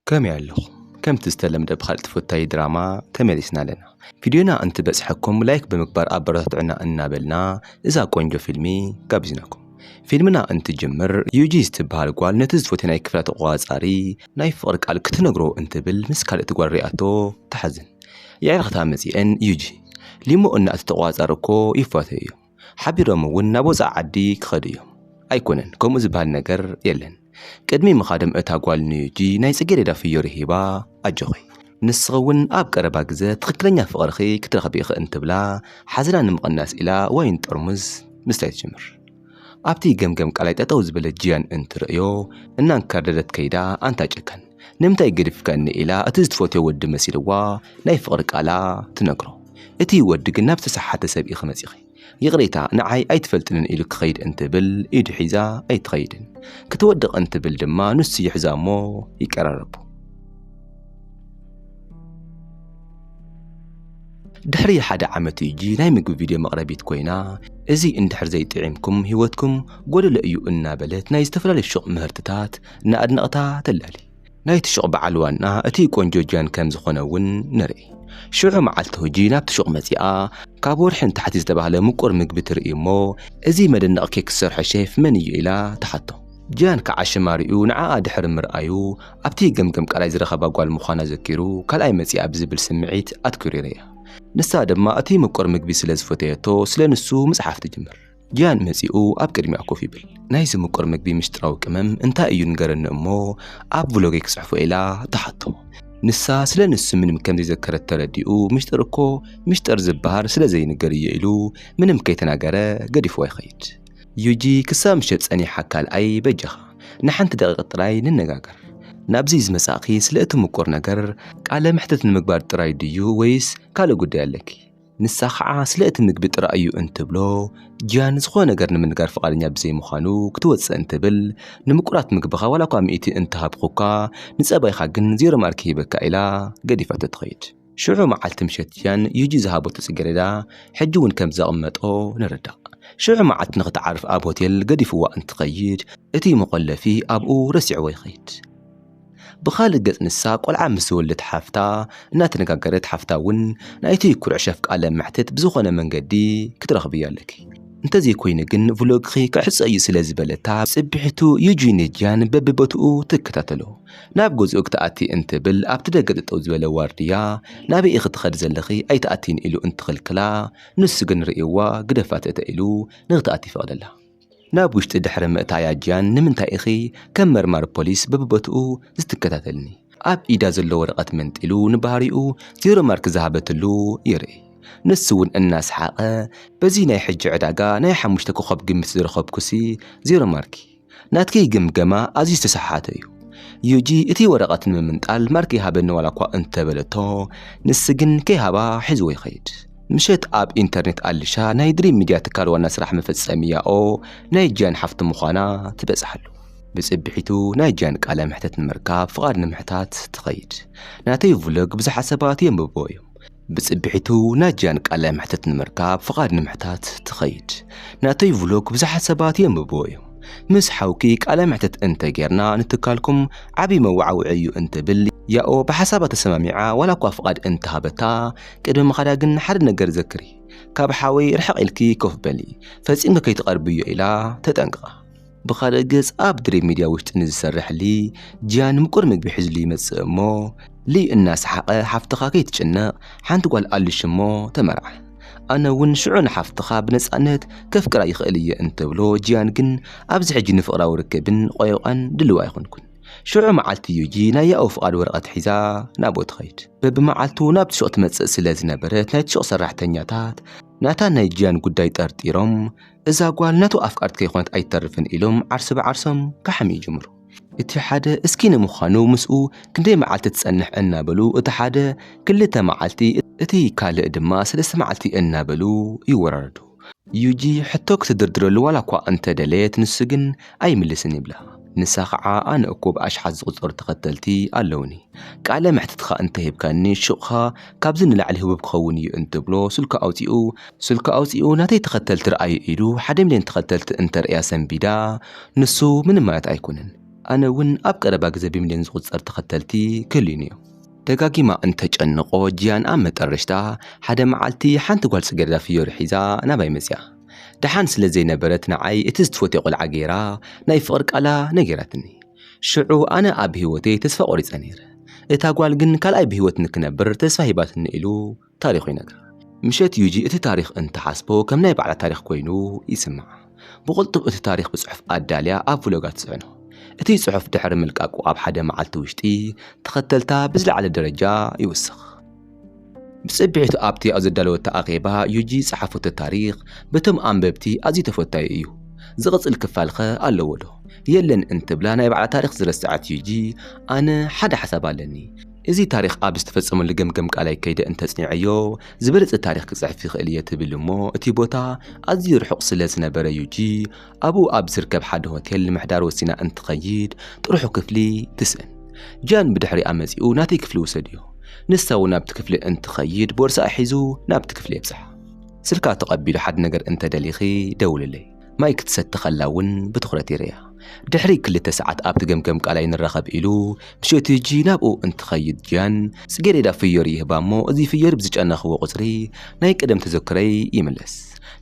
ከመይ ኣለኹም ከምቲ ዝተለምደ ብኻልእ ተፈታዊ ድራማ ተመሊስና ኣለና ቪድዮና እንትበጽሐኩም ላይክ ብምግባር ኣበረታትዑና እናበልና እዛ ቆንጆ ፊልሚ ጋቢዝናኩም ፊልምና እንትጅምር ዩጂ ዝትበሃል ጓል ነቲ ዝፎቴ ናይ ክፍላ ተቆጻጻሪ ናይ ፍቕሪ ቃል ክትነግሮ እንትብል ምስ ካልእቲ ጓል ሪኣቶ ትሓዝን የዕርኽታ መጺኤን ዩጂ ሊሞ እና እቲ ተቆጻጻሪ እኮ ይፏተዩ እዮም ሓቢሮም እውን ናብ ወፃኢ ዓዲ ክኸዱ እዮም። ኣይኮነን ከምኡ ዝበሃል ነገር የለን። ቅድሚ ምኻዶም እታ ጓል ንዩጂ ናይ ጽጌሬዳ ፍዮሪ ሂባ ኣጆኺ ንስኺ እውን ኣብ ቀረባ ግዘ ትኽክለኛ ፍቕርኺ ክትረኽቢ ኢኺ እንትብላ ሓዘና ንምቕናስ ኢላ ዋይን ጠርሙዝ ምስታይ ትጅምር። ኣብቲ ገምገም ቃላይ ጠጠው ዝበለ ጂያን እንትርእዮ እናንከርደደት ከይዳ ኣንታ ጨካን! ንምንታይ ገዲፍካኒ ኢላ እቲ ዝትፈትዮ ወዲ መሲልዋ ናይ ፍቕሪ ቃላ ትነግሮ። እቲ ወዲ ግን ናብ ዝተሰሓተ ሰብ ኢኺ መጺኺ ይቕሬታ ንዓይ ኣይትፈልጥንን ኢሉ ክኸይድ እንትብል ኢዱ ሒዛ ኣይትኸይድን። ክትወድቕ እንትብል ድማ ንሱ ይሕዛ'ሞ ይቀራረቡ። ድሕሪ ሓደ ዓመት ዩጂ ናይ ምግቢ ቪድዮ መቕረቢት ኮይና እዚ እንድሕር ዘይጥዒምኩም ህይወትኩም ጎደሎ እዩ እናበለት ናይ ዝተፈላለዩ ሹቕ ምህርትታት ንኣድነቕታ ተላሊ። ናይቲ ሹቕ በዓል ዋና እቲ ቆንጆ ጃን ከም ዝኾነ እውን ንርኢ። ሽዑ መዓልቲ ሁጂ ናብቲ ሹቕ መጺኣ ካብ ወርሒ ንታሕቲ ዝተባህለ ምቁር ምግቢ ትርኢ እሞ እዚ መደነቕ ኬክ ዝሰርሖ ሼፍ መን እዩ ኢላ ትሓቶ። ጃን ከዓ ሽም ኣርእዩ ንዓኣ ድሕሪ ምርኣዩ ኣብቲ ገምገም ቃላይ ዝረኸባ ጓል ምዃና ዘኪሩ ካልኣይ መጺኣ ብዝብል ስምዒት ኣትኲሩ ይርእያ። ንሳ ድማ እቲ ምቁር ምግቢ ስለ ዝፈተየቶ ስለ ንሱ ምጽሓፍ ትጅምር። ጂያን መጺኡ ኣብ ቅድሚኣ ኮፍ ይብል። ናይዚ ምቁር ምግቢ ምስጢራዊ ቅመም እንታይ እዩ ንገረኒ እሞ ኣብ ቭሎገይ ክጽሕፎ ኢላ ትሓቶ። ንሳ ስለ ንሱ ምንም ከም ዘይዘከረት ተረዲኡ ምሽጥር እኮ ምሽጥር ዝበሃል ስለ ዘይንገር እየ ኢሉ ምንም ከይተናገረ ገዲፍዋ ይኸይድ። ዩጂ ክሳብ ምሸት ጸኒሓ ካልኣይ በጃኻ ንሓንቲ ደቂቕ ጥራይ ንነጋገር። ናብዚ ዝመጻእኺ ስለ እቲ ምቁር ነገር ቃለ መሕትት ንምግባር ጥራይ ድዩ ወይስ ካልእ ጉዳይ ኣለኪ? ንሳ ከዓ ስለ እቲ ምግቢ ጥራይ እዩ እንትብሎ ጂያን ዝኾነ ነገር ንምንጋር ፍቓደኛ ብዘይምዃኑ ክትወፅእ እንትብል ንምቁራት ምግብኻ ዋላ እኳ ሚእቲ እንተሃብኹካ ንፀባይኻ ግን ዜሮ ማርክ ሂበካ ኢላ ገዲፋቶ ትኸይድ። ሽዑ መዓልቲ ምሸት ጂያን ዩጂ ዝሃበቶ ፅጌሬዳ ሕጂ እውን ከም ዘቕመጦ ንርዳእ። ሽዑ መዓልቲ ንኽትዓርፍ ኣብ ሆቴል ገዲፍዋ እንትኸይድ እቲ መቖለፊ ኣብኡ ረሲዕዎ ይኸይድ። ብኻልእ ገፅ ንሳ ቆልዓ ምስ ዝወልደት ሓፍታ እናተነጋገረት ሓፍታ እውን ናይቲ ኩርዕ ሸፍ ቃለ መሕትት ብዝኾነ መንገዲ ክትረኽብያ ኣለኪ እንተዘይኮይኑ ግን ቭሎግኺ ክዕፆ እዩ ስለ ዝበለታ ፅብሒቱ ዩጂን ጂያን በቢቦትኡ ትከታተሎ። ናብ ገዝኡ ክትኣቲ እንትብል ኣብቲ ደገ ጠጠው ዝበለ ዋርድያ ናበይ ኢኺ ትኸዲ ዘለኺ ኣይትኣትይን ኢሉ እንትኽልክላ ንሱ ግን ሪእዋ ግደፋት እተ ኢሉ ንክትኣቲ ይፈቕደላ። ናብ ውሽጢ ድሕሪ ምእታያ ጂያን ንምንታይ ኢኺ ከም መርማሪ ፖሊስ በብቦትኡ ዝትከታተልኒ? ኣብ ኢዳ ዘሎ ወረቐት መንጢሉ ንባህሪኡ ዜሮ ማርክ ዝሃበትሉ ይርኢ። ንሱ'ውን እናሰሓቐ በዚ ናይ ሕጂ ዕዳጋ ናይ ሓሙሽተ ኮኾብ ግምት ዝረኸብኩሲ ዜሮ ማርኪ። ናትኪ ግምገማ ኣዝዩ ዝተሰሓሓተ'ዩ። ዩጂ እቲ ወረቐት ንምምንጣል ማርክ ይሃበኒ ዋላኳ እንተበለቶ ንስግን ከይሃባ ሒዝዎ ይኸይድ። ምሸት ኣብ ኢንተርኔት ኣሊሻ ናይ ድሪም ሚድያ ትካል ዋና ስራሕ መፈጸሚ ያኦ ናይ ጂያን ሓፍቲ ምዃና ትበጽሓሉ። ብጽብሒቱ ናይ ጂያን ቃለ መሕተት ንምርካብ ፍቓድ ንምሕታት ትኸይድ። ናተይ ቭሎግ ብዙሓት ሰባት የንብብዎ እዮም። ብጽብሒቱ ናይ ጂያን ቃለ መሕተት ንምርካብ ፍቓድ ንምሕታት ትኸይድ። ናተይ ቭሎግ ብዙሓት ሰባት የንብብዎ እዮም። ምስ ሓውኪ ቃለ መሕተት እንተ ጌርና ንትካልኩም ዓብዪ መወዓውዒ እዩ እንትብል ያኦ ብሓሳባ ተሰማሚዓ ዋላ እኳ ፍቓድ እንተሃበታ ቅድሚ ምኻዳ ግን ሓደ ነገር ዘክሪ፣ ካብ ሓወይ ርሕቕ ኢልኪ ኮፍ በሊ፣ ፈጺምኪ ከይትቐርብዮ ኢላ ተጠንቅቓ። ብኻልእ ገጽ ኣብ ድሪብ ሚድያ ውሽጢ ንዝሰርሕ ሊ ጂያን ንምቁር ምግቢ ሒዝሉ ይመጽእ እሞ ሊ እናሰሓቐ ሓፍትኻ ከይትጭነቕ ሓንቲ ጓል ኣሉሽ እሞ ተመርዓ ኣነ እውን ሽዑ ንሓፍትኻ ብነጻነት ከፍቅራ ይኽእል እየ እንተብሎ ጂያን ግን ኣብዚ ሕጂ ንፍቕራዊ ርክብን ቆይቋን ድልው ኣይኮንኩን። ሽዑ መዓልቲ ዩጂ ናይ ያኡ ፍቓድ ወረቐት ሒዛ ናብኡ ትኸይድ። በብመዓልቱ ናብቲ ሹቕ ትመጽእ ስለ ዝነበረት ናይቲ ሹቕ ሰራሕተኛታት ናታን ናይ ጂያን ጉዳይ ጠርጢሮም እዛ ጓል ናቱ ኣፍቃርት ከይኮነት ኣይትተርፍን ኢሎም ዓርሰ ብዓርሶም ከሕምዩ ይጅምሩ። እቲ ሓደ እስኪ ንምዃኑ ምስኡ ክንደይ መዓልቲ ትጸንሕ እናበሉ እቲ ሓደ ክልተ መዓልቲ እቲ ካልእ ድማ ሰለስተ መዓልቲ እናበሉ ይወራረዱ። ዩጂ ሕቶ ክትድርድረሉ ዋላ እኳ እንተ ደለየት ንሱ ግን ኣይምልስን ይብላ። ንሳ ኸዓ ኣነ እኮ ብኣሽሓት ዝቑጸሩ ተኸተልቲ ኣለዉኒ፣ ቃለ መሕትትኻ እንተ ሂብካኒ ሹቕኻ ካብዚ ንላዕሊ ህቡብ ክኸውን እዩ እንትብሎ ስልኩ ኣውጺኡ ስልኩ ኣውጺኡ ናተይ ተኸተልቲ ርኣዩ ኢሉ ሓደ ሚልዮን ተኸተልቲ እንተርእያ ሰንቢዳ ንሱ ምንም ማለት ኣይኮነን ኣነ እውን ኣብ ቀረባ ግዘ ብሚልዮን ዝቑጸር ተኸተልቲ ክህልዩኒ እዮም። ደጋጊማ እንተጨንቆ ጂያን ኣብ መጠረሽታ ሓደ መዓልቲ ሓንቲ ጓል ጽጌረዳ ፍዮሪ ሒዛ ናባይ መጺኣ። ደሓን ስለ ዘይነበረት ንዓይ እቲ ዝትፈትዮ ቆልዓ ገይራ ናይ ፍቕሪ ቃላ ነጊራትኒ። ሽዑ ኣነ ኣብ ህይወተይ ተስፋ ቆሪጸ ነይረ። እታ ጓል ግን ካልኣይ ብህይወት ንክነብር ተስፋ ሂባትኒ ኢሉ። ታሪኹ ይነግር። ምሸት ዩጂ እቲ ታሪኽ እንትሓስቦ ከም ናይ ባዕላ ታሪኽ ኮይኑ ይስምዓ። ብቕልጡፍ እቲ ታሪኽ ብጽሑፍ ኣዳልያ ኣብ ቭሎጋ ትጽዕኖ። እቲ ጽሑፍ ድሕሪ ምልቃቁ ኣብ ሓደ መዓልቲ ውሽጢ ተኸተልታ ብዝለዓለ ደረጃ ይውስኽ። ብጽብሒቱ ኣብቲ ኣብ ዘዳለወቶ ኣኼባ ዩጂ ዝጸሓፈቶ ታሪኽ በቶም ኣንበብቲ ኣዝዩ ተፈታዊ እዩ። ዝቕጽል ክፋል'ኸ ኣለዎዶ? የለን እንትብላ ናይ ባዕላ ታሪኽ ዝረስዐት ዩጂ ኣነ ሓደ ሓሳብ ኣለኒ። እዚ ታሪኽ ኣብ ዝተፈጸመሉ ገምገም ቃላይ ከይደ እንተጽኒዐዮ ዝበለጸ ታሪኽ ክጽሕፍ ይኽእል እየ ትብል እሞ እቲ ቦታ ኣዝዩ ርሑቕ ስለ ዝነበረ ዩጂ ኣብኡ ኣብ ዝርከብ ሓደ ሆቴል ንምሕዳር ወሲና እንትኸይድ ጥርሑ ክፍሊ ትስእን። ጃን ብድሕሪኣ መጺኡ ናተይ ክፍሊ ውሰድዮ። ንሳ እውን ናብቲ ክፍሊ እንትኸይድ ቦርሳኣ ሒዙ ናብቲ ክፍሊ የብጽሓ። ስልካ ተቐቢሉ ሓደ ነገር እንተደሊኺ ደውልለይ። ማይ ክትሰቲ ከላ እውን ብትኹረት ይርእያ። ድሕሪ ክልተ ሰዓት ኣብቲ ገምገም ቃላይ ንራኸብ ኢሉ ምሸትጂ ናብኡ እንትኸይድ ጂያን ጽጌሬዳ ፍዮሪ ይህባ እሞ እዚ ፍዮሪ ብዝጨነኽዎ ቁጽሪ ናይ ቀደም ተዘክሮይ ይምለስ።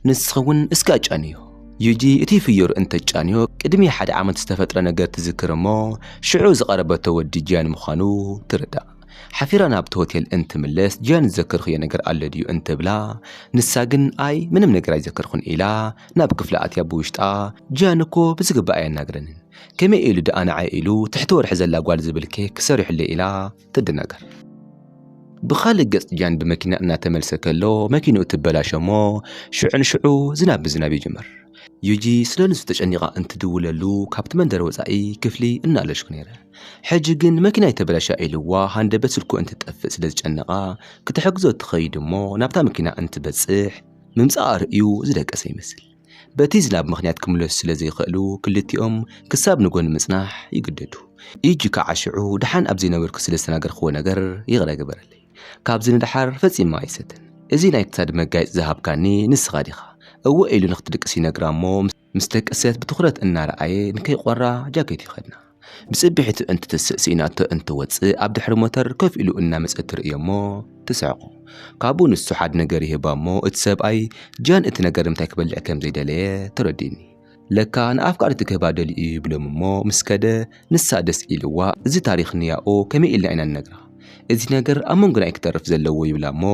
ንስኺ እውን እስከ ኣጫንዮ። ጂጂ እቲ ፍዮሪ እንተትጫንዮ ቅድሚ ሓደ ዓመት ዝተፈጥረ ነገር ትዝክር እሞ ሽዑ ዝቐረበቶ ወዲ ጂያን ምዃኑ ትርዳእ። ሓፊራ ናብቲ ሆቴል እንትምለስ ጂያን ዝዘከርክዮ ነገር ኣሎ ድዩ እንትብላ ንሳ ግን ኣይ ምንም ነገር ኣይዘከርኩን ኢላ ናብ ክፍላ ኣትያ ብውሽጣ ጂያን እኮ ብዝግባእ ኣየናግረንን ከመይ ኢሉ ድኣ ንዓይ ኢሉ ትሕቲ ወርሒ ዘላ ጓል ዝብል ኬክ ሰሪሑለይ ኢላ ትደናገር። ብኻልእ ገጽ ጂያን ብመኪና እናተመልሰ ከሎ መኪንኡ ትበላሾ እሞ ሽዑ ንሽዑ ዝናብ ምዝናብ ይጅምር። ዩጂ ስለ ንሱ ተጨኒቓ እንትድውለሉ ካብቲ መንደር ወጻኢ ክፍሊ እናኣለሽኩ ነይረ። ሕጂ ግን መኪናይ ተበላሽያ ኢልዋ ሃንደበት ስልኩ እንትጠፍእ ስለ ዝጨነቓ ክትሕግዞ ትኸይድ እሞ ናብታ መኪና እንትበጽሕ ምምጻኣ ርእዩ ዝደቀሰ ይመስል። በቲ ዝናብ ምኽንያት ክምለሱ ስለ ዘይኸእሉ ክልቲኦም ክሳብ ንጎኒ ምጽናሕ ይግደዱ። ኢጂ ካዓ ሽዑ ድሓን ኣብ ዘይነበርኩ ስለ ዝተናገርክዎ ነገር ይቕረ ግበረለይ። ካብዚ ንድሓር ፈጺመ ኣይሰትን። እዚ ናይ ክሳድ መጋየጺ ዝሃብካኒ ንስኻ ዲኻ? እወ ኢሉ ንክትድቅስ ይነግራ እሞ ምስ። ምስ ደቅሰት ብትኹረት እናረኣየ ንከይቆራ ጃኬት ይኸድና። ብጽብሒቱ እንትትስእ ስኢናቶ እንትወጽእ ኣብ ድሕሪ ሞተር ከፍ ኢሉ እናመጸት ትርእዮ'ሞ ትስሕቁ። ካብኡ ንሱ ሓድ ነገር ይህባ'ሞ እቲ ሰብኣይ ጃን እቲ ነገር ንምታይ ክበልዕ ከም ዘይደለየ ተረዲኡኒ። ለካ ንኣፍቃሪቱ ክህባ ደልዩ'ዩ ይብሎም'ሞ ምስ ከደ ንሳ ደስ ኢልዋ እዚ ታሪኽ ንያኡ ከመይ ኢልና ኢና ንነግራ እዚ ነገር ኣብ መንጎና እዩ ክተርፍ ዘለዎ ይብላ እሞ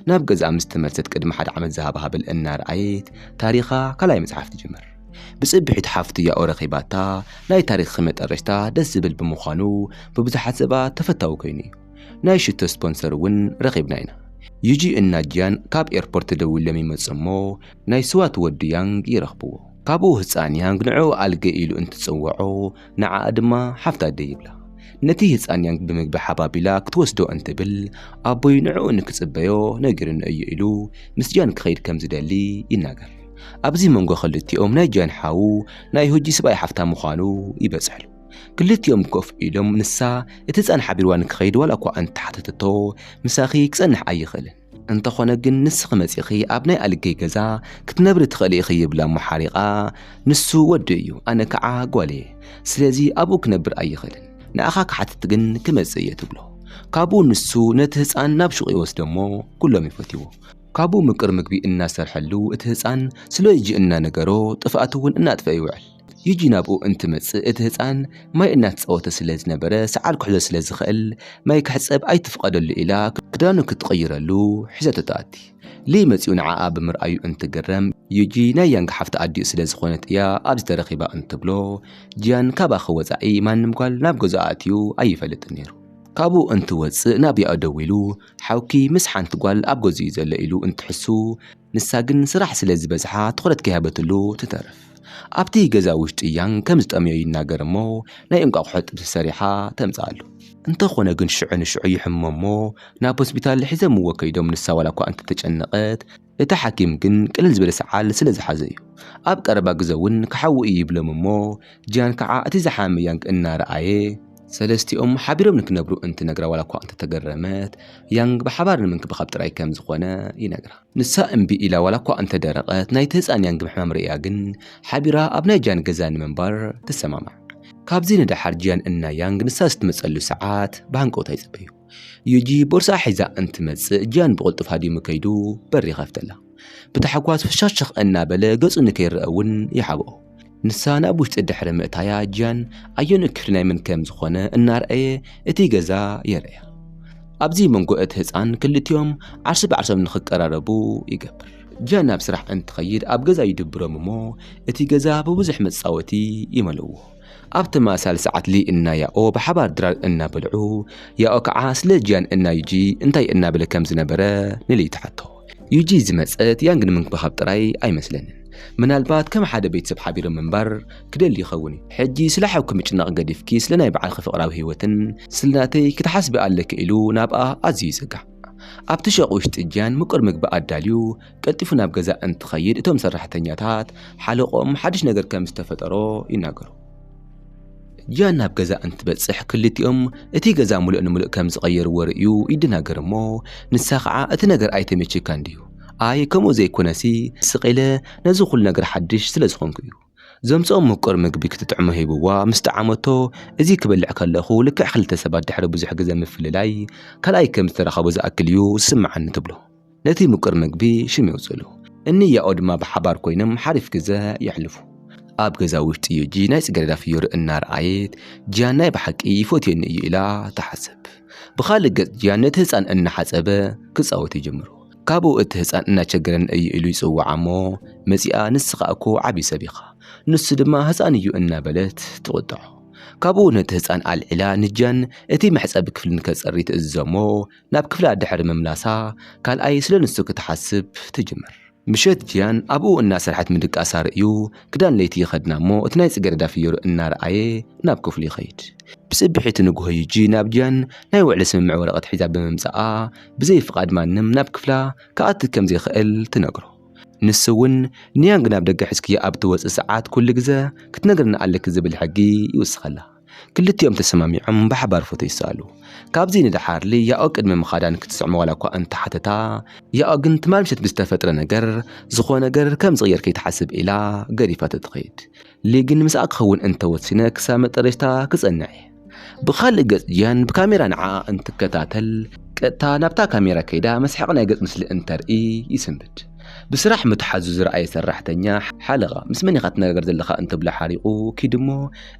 ናብ ገዝኣ ምስ ተመልሰት ቅድሚ ሓደ ዓመት ዝሃባ ሃብል እናርኣየት ታሪኻ ካልኣይ ምጽሓፍ ትጅምር። ብጽብሒት ሓፍቱ ያኡ ረኺባታ ናይ ታሪኽኺ መጠረሽታ ደስ ዝብል ብምዃኑ ብብዙሓት ሰባት ተፈታዊ ኮይኑ እዩ። ናይ ሽቶ ስፖንሰር እውን ረኺብና ኢና። ዩጂ እና ጂያን ካብ ኤርፖርት ተደዊሎም ይመጹ እሞ ናይ ስዋት ወዲ ያንግ ይረኽብዎ። ካብኡ ህጻን ያንግ ንዕኡ ኣልገ ኢሉ እንትጽውዖ ንዓኣ ድማ ሓፍቲ ኣደይ ይብላ። ነቲ ህጻን ያንግ ብምግቢ ሓባቢላ ክትወስዶ እንትብል ኣቦይ ንዕኡ ንክጽበዮ ነጊሩኒ እዩ ኢሉ ምስ ጃን ክኸይድ ከም ዝደሊ ይናገር። ኣብዚ መንጎ ክልቲኦም ናይ ጃን ሓው ናይ ሆጂ ስብኣይ ሓፍታ ምዃኑ ይበጽሕሉ። ክልቲኦም ኮፍ ኢሎም ንሳ እቲ ህጻን ሓቢርዋ ንክኸይድ ዋላ'ኳ እንተሓተተቶ ምሳኺ ክጸንሕ ኣይኽእልን። እንተኾነ ግን ንስኺ መጺኺ ኣብ ናይ ኣልገይ ገዛ ክትነብሪ ትኽእሊ ኢኺ ይብላ እሞ ሓሪቓ ንሱ ወዱ እዩ ኣነ ከዓ ጓል እየ ስለዚ ኣብኡ ክነብር ኣይኽእልን ንኣኻ ክሓትት ግን ክመጽእ እየ ትብሎ ካብኡ ንሱ ነቲ ህፃን ናብ ሹቕ ይወስዶ እሞ ኩሎም ይፈትዎ ካብኡ ምቅር ምግቢ እናሰርሐሉ እቲ ህፃን ስለ ልጁ እናነገሮ ጥፍኣቱ እውን እናጥፈ ይውዕል ጂጂ ናብኡ እንትመጽእ እቲ ህጻን ማይ እናተጻወተ ስለ ዝነበረ ሰዓል ክሕዞ ስለ ዝኽእል ማይ ክሕጸብ ኣይትፍቐደሉ ኢላ ክዳኑ ክትቕይረሉ ሒዛቶ ትኣቲ። ሊ መጺኡ ንዓኣ ብምርኣዩ እንትግረም ዩጂ ናይ ያንግ ሓፍቲ ኣዲኡ ስለ ዝኾነት እያ ኣብዚ ተረኺባ እንትብሎ ጂያን ካባኺ ወጻኢ ማንም ጓል ናብ ገዝኡ ኣእትዩ ኣይፈልጥን ነይሩ። ካብኡ እንትወጽእ ናብ ያኡ ደዊሉ ሓውኪ ምስ ሓንቲ ጓል ኣብ ገዝኡ እዩ ዘሎ ኢሉ እንትሕሱ፣ ንሳ ግን ስራሕ ስለ ዝበዝሓ ትኹረት ከይሃበትሉ ትተርፍ። ኣብቲ ገዛ ውሽጢ ያንግ ከም ዝጠምዮ ይናገር እሞ ናይ እንቋቑሖ ጥብሲ ሰሪሓ ተምጽኣሉ። እንተኾነ ግን ሽዑ ንሽዑ ይሕሞ እሞ ናብ ሆስፒታል ሒዘምዎ ከይዶም ንሳ ዋላኳ እንተተጨነቐት እቲ ሓኪም ግን ቅልል ዝበለ ሰዓል ስለ ዝሓዘ እዩ። ኣብ ቀረባ ግዘ እውን ክሓዊ እዩ ይብሎም እሞ ጂያን ከዓ እቲ ዝሓመመ ያንግ እናረኣየ ሰለስቲኦም ሓቢሮም ንክነብሩ እንትነግራ ዋላ እኳ እንተተገረመት፣ ያንግ ብሓባር ንምንክብኻብ ጥራይ ከም ዝኾነ ይነግራ። ንሳ እምቢ ኢላ ዋላ እኳ እንተደረቐት፣ ናይቲ ህጻን ያንግ ምሕማም ርእያ ግን ሓቢራ ኣብ ናይ ጂያን ገዛ ንምንባር ትሰማማዕ። ካብዚ ንደሓር ጂያን እና ያንግ ንሳ ዝትመጸሉ ሰዓት ብሃንቀውታ ይጽበዩ። ዩጂ ቦርስኣ ሒዛ እንትመጽእ ጂያን ብቕልጡፍ ሃዲሙ ከይዱ በሪ ይኸፍተላ። ብታሕጓስ ፍሸኽሸኽ እናበለ ገጹ ንከይረኣ እውን ይሓብኦ። ንሳ ናብ ውሽጢ ድሕሪ ምእታያ ጂያን ኣየኖ ክፍሊ ናይ መን ከም ዝኾነ እናርኣየ እቲ ገዛ የርእያ። ኣብዚ መንጎ እቲ ህጻን ክልቲኦም ዓርሰ ብዓርሶም ንክቀራረቡ ይገብር። ጂያን ናብ ስራሕ እንትኸይድ ኣብ ገዛ ይድብሮም እሞ እቲ ገዛ ብብዙሕ መጻወቲ ይመልእዎ። ኣብ ተመሳሳሊ ሰዓት ሊ እና ያኦ ብሓባር ድራር እናበልዑ፣ ያኦ ከዓ ስለ ጂያን እና ዩጂ እንታይ እናበለ ከም ዝነበረ ንሊ ትሓቶ። ዩጂ ዝመጸት ያንግ ንምንክብኻብ ጥራይ ኣይመስለንን ምናልባት ከም ሓደ ቤተሰብ ሓቢሩ ምንባር ክደሊ ይኸውን እዩ ሕጂ ስለ ሓውኪ ምጭናቕ ገዲፍኪ ስለ ናይ በዓልኪ ፍቕራዊ ህይወትን ስለ ናተይ ክትሓስቢ ኣለኪ ኢሉ ናብኣ ኣዝዩ ይጽጋዕ ኣብቲ ሸቕ ውሽጢ ጃን ምቁር ምግቢ ኣዳልዩ ቀልጢፉ ናብ ገዛ እንትኸይድ እቶም ሰራሕተኛታት ሓለቆም ሓድሽ ነገር ከም ዝተፈጠሮ ይናገሩ ጂያን ናብ ገዛ እንትበጽሕ ክልቲኦም እቲ ገዛ ምሉእ ንምሉእ ከም ዝቐየርዎ ርእዩ ይደናገር እሞ ንሳ ኸዓ እቲ ነገር ኣይተመችካን ድዩ? ኣይ ከምኡ ዘይኮነሲ ስቕ ኢለ ነዚ ኩሉ ነገር ሓድሽ ስለ ዝኾንኩ እዩ። ዘምጽኦ ምቁር ምግቢ ክትጥዕሞ ሂብዋ ምስ ጠዓመቶ እዚ ክበልዕ ከለኹ ልክዕ ክልተ ሰባት ድሕሪ ብዙሕ ግዘ ምፍልላይ ካልኣይ ከም ዝተራኸቡ ዝኣክል እዩ ዝስምዓኒ ትብሎ። ነቲ ምቁር ምግቢ ሽም የውፅእሉ። እኒ ያኦ ድማ ብሓባር ኮይኖም ሓሪፍ ግዘ የሕልፉ። ኣብ ገዛ ውሽጢ ዩጂ ናይ ፅገረዳ ፍዮሪ እናርኣየት ጂያን ናይ ብሓቂ ይፎትየኒ እዩ ኢላ ትሓስብ። ብኻልእ ገፅ ጂያን ነቲ ህፃን እናሓፀበ ክፃወት ይጅምሩ። ካብኡ እቲ ህፃን እናቸገረኒ እዩ ኢሉ ይፅውዓ እሞ መፂኣ ንስኻ እኮ ዓብዪ ሰብ ኢኻ ንሱ ድማ ህፃን እዩ እናበለት ትቑጥዖ። ካብኡ ነቲ ህፃን ኣልዒላ ንጂያን እቲ መሕፀቢ ክፍሊ ንከፅሪ ትእዝዞ እሞ ናብ ክፍላ ድሕሪ ምምላሳ ካልኣይ ስለ ንሱ ክትሓስብ ትጅምር። ምሸት ጂያን ኣብኡ እናሰርሐት ምድቃሳ ርእዩ ክዳን ለይቲ ይኸድና እሞ እቲ ናይ ጽጌረዳ ፍዮሪ እናረኣየ ናብ ክፍሉ ይኸይድ። ብጽብሒቱ ንግሆ ዩጂ ናብ ጂያን ናይ ውዕሊ ስምምዕ ወረቐት ሒዛ ብምምጻኣ ብዘይ ፍቓድ ማንም ናብ ክፍላ ክኣቲ ከም ዘይክእል ትነግሮ። ንሱ እውን ንያንግ ናብ ደገ ሒዝክዮ ኣብ እትወጺ ሰዓት ኩሉ ግዘ ክትነግርኒ ኣለኪ ዝብል ሕጊ ይውስኸላ። ክልቲኦም ተሰማሚዖም ብሓባር ፎቶ ይሰኣሉ። ካብዚ ንደሓር ልያኦ ቅድሚ ምኻዳ ንክትስዕሞ ዋላ እኳ እንተ ሓተታ፣ ያኦ ግን ትማል ምሸት ብዝተፈጥረ ነገር ዝኾነ ነገር ከም ዝቕየር ከይትሓስብ ኢላ ገዲፋቶ ትኸይድ። ሊ ግን ምስኣ ክኸውን እንተ ወሲነ ክሳብ መጠረሽታ ክጸንዕ እየ። ብኻልእ ገጽ ጂያን ብካሜራ ንዓኣ እንትከታተል ቀጥታ ናብታ ካሜራ ከይዳ መስሓቂ ናይ ገጽ ምስሊ እንተርኢ ይስንብድ። ብስራሕ ምትሓዙ ዝረኣየ ሰራሕተኛ ሓለቓ ምስ መን ኢኻ ትነጋገር ዘለኻ እንተብሎ ሓሪቑ ኪድ'ሞ፣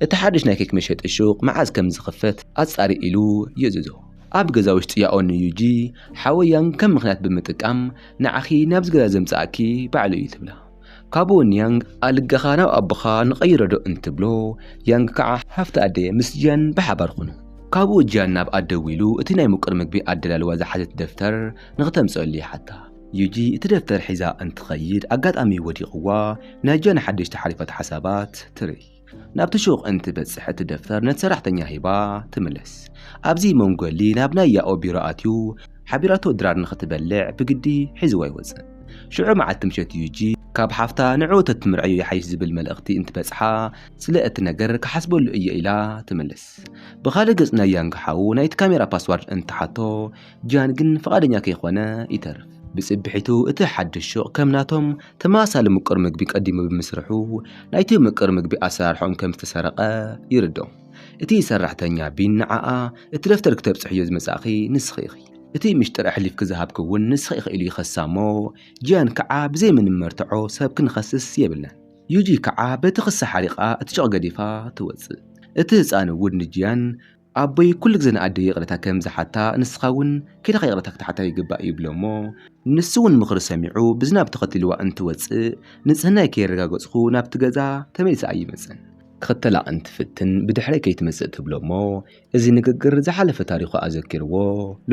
እቲ ሓድሽ ናይ ኬክ መሸጢ ሹቕ መዓዝ ከም ዝኽፈት ኣጻሪ ኢሉ ይእዝዞ። ኣብ ገዛ ውሽጢ ያኦ ንዩጂ፣ ሓወይ ያንግ ከም ምኽንያት ብምጥቃም ንዓኺ ናብዚ ገዛ ዘምጽኣኪ ባዕሉ እዩ ትብላ። ካብኡ ንያንግ ኣልጋኻ ናብ ኣቦኻ ንቐይሮዶ እንትብሎ፣ ያንግ ከኣ ሃፍቲ ኣደየ ምስ ጂያን ብሓባር ኹኑ። ካብኡ ጂያን ናብ ኣድ ደዊሉ እቲ ናይ ምቁር ምግቢ ኣደላልዋ ዝሓዘት ደፍተር ንኽተምጽኣሉ ይሓታ። ዩጂ እቲ ደፍተር ሒዛ እንትኸይድ ኣጋጣሚ ወዲቕዋ ናይ ጂያን ሓደሽቲ ሓሪፋት ሓሳባት ትርኢ። ናብቲ ሹቕ እንትበጽሕ እቲ ደፍተር ነቲ ሰራሕተኛ ሂባ ትምለስ። ኣብዚ መንጎ ሊ ናብ ናይ ያኦ ቢሮ ኣትዩ ሓቢራቶ ድራር ንኽትበልዕ ብግዲ ሒዝዋ ይወጽእ። ሽዑ መዓልቲ ምሸት ዩጂ ካብ ሓፍታ ንዕኡ ተትምርዐዮ ይሓይሽ ዝብል መልእኽቲ እንትበጽሓ ስለ እቲ ነገር ክሓስበሉ እየ ኢላ ትምልስ። ብኻልእ ገጽ ናይ ያንግ ሓው ናይቲ ካሜራ ፓስዋርድ እንትሓቶ ጂያን ግን ፍቓደኛ ከይኮነ ይተርፍ። ብጽብሒቱ እቲ ሓድሽ ሹቕ ከም ናቶም ተመሳሳሊ ምቁር ምግቢ ቀዲሙ ብምስርሑ ናይቲ ምቁር ምግቢ ኣሰራርሖም ከም ዝተሰረቐ ይርድኦም። እቲ ሰራሕተኛ ቢን ንዓኣ እቲ ደፍተር ክተብጽሕዮ ዝመጻእኺ ንስኺ ኢኺ፣ እቲ ምሽጥር ኣሕሊፍኪ ዝሃብኪ እውን ንስኺ ኢኺ ኢሉ ይኸሳ እሞ ጂያን ክዓ ብዘይ ምንም መርትዖ ሰብ ክንኸስስ የብልናን። ዩጂ ክዓ በቲ ክሳ ሓሪቓ እቲ ጨቕ ገዲፋ ትወጽእ። እቲ ህጻን እውን ንጂያን ኣቦይ ኩሉ ግዜ ንኣደይ ይቕሬታ ከም ዝሓታ ንስኻ እውን ከይድኻ ይቕሬታ ክትሓታ ይግባእ ይብሎ'ሞ ንሱ እውን ምኽሪ ሰሚዑ ብዝናብ ተኸቲሉዋ እንትወጽእ ንጽህናይ ከየረጋገጽኩ ናብቲ ገዛ ተመሊሰ ኣይመጽን ክኽተላ እንትፍትን ብድሕረይ ከይትመጽእ ትብሎ'ሞ እዚ ንግግር ዝሓለፈ ታሪኹ ኣዘኪርዎ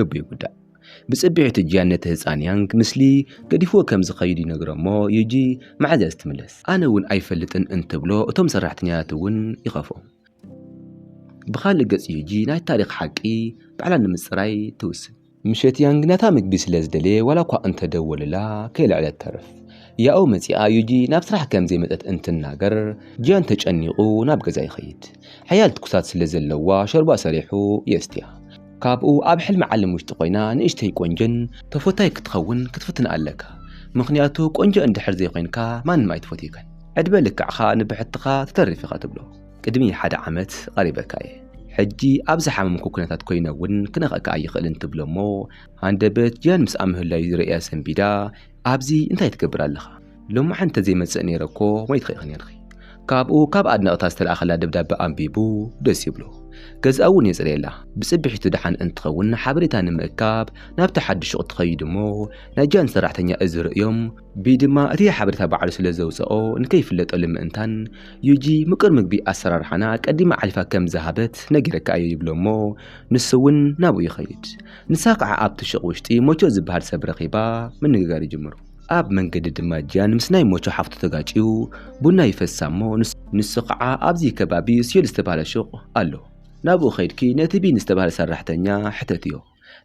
ልቡ ይጉዳእ። ብጽብሒቱ ጂያን ነቲ ህጻን ያንግ ምስሊ ገዲፍዎ ከም ዝኸይድ ይነግሮ'ሞ ዩጂ መዓዝ'ያ ዝትምለስ? ኣነ እውን ኣይፈልጥን እንትብሎ እቶም ሰራሕተኛታት እውን ይኸፍኦም። ብኻልእ ገፅ ዩጂ ናይቲ ታሪኽ ሓቂ ባዕላ ንምፅራይ ትውስን። ምሸት ያንግ ናታ ምግቢ ስለ ዝደለየ ዋላ እኳ እንተደወሉላ ከይልዐለት ተርፍ። ያኡ መፂኣ ዩጂ ናብ ስራሕ ከም ዘይመፀት እንትናገር ጂያን ተጨኒቑ ናብ ገዛ ይኸይድ። ሓያል ትኩሳት ስለ ዘለዋ ሾርባ ሰሪሑ የስትያ። ካብኡ ኣብ ሕልሚ ዓለም ውሽጢ ኮይና ንእሽተይ ቆንጆን ተፎታይ ክትኸውን ክትፍትን ኣለካ ምኽንያቱ ቆንጆ እንድሕር ዘይኮይንካ ማንም ኣይትፎትየካን ዕድመ ልክዕኻ ንብሕትኻ ትተርፍ ኢኻ ትብሎ። ቅድሚ ሓደ ዓመት ቐሪበካ እየ ሕጂ ኣብ ዝሓመምኩ ኩነታት ኮይነ እውን ክነኽእካ ኣይኽእልን ትብሎ እሞ ሃንደበት ጂያን ምስኣ ምህላዩ ርእያ ሰንቢዳ ኣብዚ እንታይ ትገብር ኣለኻ ሎማዕንቲ እንተዘይመጽእ ነይረ እኮ ሞይትኺ ኢኺ ነይርኺ ካብኡ ካብ ኣድነቕታ ዝተላእኸላ ደብዳበ ኣንቢቡ ደስ ይብሎ ገዝኣ እውን የጽርየላ ብጽብሒቱ ደሓን እንትኸውን ሓበሬታ ንምእካብ ናብቲ ሓድሽ ሹቕ ትኸይድ እሞ ናይ ጂያን ሰራሕተኛ እዚ ርእዮም ቢይ ድማ እቲ ሓበሬታ ባዕሉ ስለዘውጸኦ ንከይፍለጠሉ ምእንታን ዩጂ ምቁር ምግቢ ኣሰራርሓና ቀዲማ ኣሕሊፋ ከም ዝሃበት ነጊረካ እየ ይብሎ እሞ ንሱ እውን ናብኡ ይኸይድ። ንሳ ከዓ ኣብቲ ሹቕ ውሽጢ ሞቾ ዝበሃል ሰብ ረኺባ ምንግጋር ይጅምሩ። ኣብ መንገዲ ድማ ጂያን ምስ ናይ ሞቾ ሓፍቱ ተጋጭዩ ቡና ይፈሳ እሞ ንሱ ከዓ ኣብዚ ከባቢ ስዮል ዝተብሃለ ሹቕ ኣሎ ናብኡ ከይድኪ ነቲ ቢን ዝተብሃለ ሰራሕተኛ ሕተትዮ።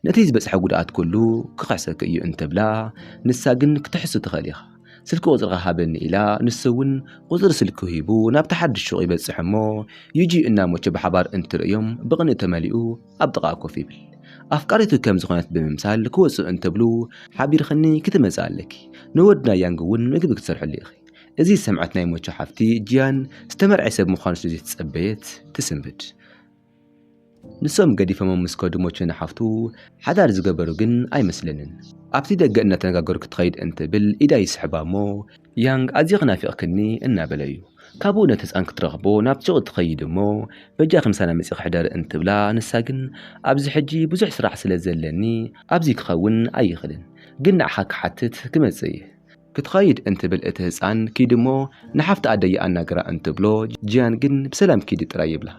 ነቲ ዝበጽሐ ጉድኣት ኩሉ ክኽሕሰኪ እዩ እንተብላ፣ ንሳ ግን ክትሕሱ ትኽእል ኢኻ፣ ስልኪ ቁጽርኻ ሃበኒ ኢላ፣ ንሱ እውን ቁጽሪ ስልኩ ሂቡ ናብቲ ሓድሽ ሹቕ ይበጽሕ እሞ፣ ዩጂ እና ሞቸ ብሓባር እንትርእዮም ብቕንኢ ተመሊኡ ኣብ ጥቓኣ ኮፍ ይብል። ኣፍቃሪቱ ከም ዝኾነት ብምምሳል ክወጽኡ እንትብሉ፣ ሓቢርክኒ ክትመጺ ኣለኪ፣ ንወድና ያንግ እውን ምግቢ ክትሰርሕሉ ኢኺ፣ እዚ ዝሰምዐት ናይ ሞቸ ሓፍቲ ጂያን ዝተመርዐየ ሰብ ምዃኑ ስለ ዘይተጸበየት ትስንብድ። ንሶም ገዲፈሞም ምስ ከዱ ሞቸ ንሓፍቱ ሓዳር ዝገበሩ ግን ኣይመስለንን። ኣብቲ ደገ እናተነጋገሩ ክትኸይድ እንትብል ኢዳ ይስሕባ እሞ ያንግ ኣዚኺ ናፊቕክኒ እናበለ እዩ። ካብኡ ነቲ ህጻን ክትረኽቦ ናብ ሱቕ ትኸይድ እሞ በጃኺ ምሳና መጺኺ ሕደሪ እንትብላ ንሳ ግን ኣብዚ ሕጂ ብዙሕ ስራሕ ስለ ዘለኒ ኣብዚ ክኸውን ኣይኽልን ግን ንዓኻ ክሓትት ክመጽእ እየ ክትኸይድ እንትብል እቲ ህጻን ኪድ እሞ ንሓፍቲ ኣደይ ኣናግራ እንትብሎ ጂያን ግን ብሰላም ኪዲ ጥራይ ይብላ።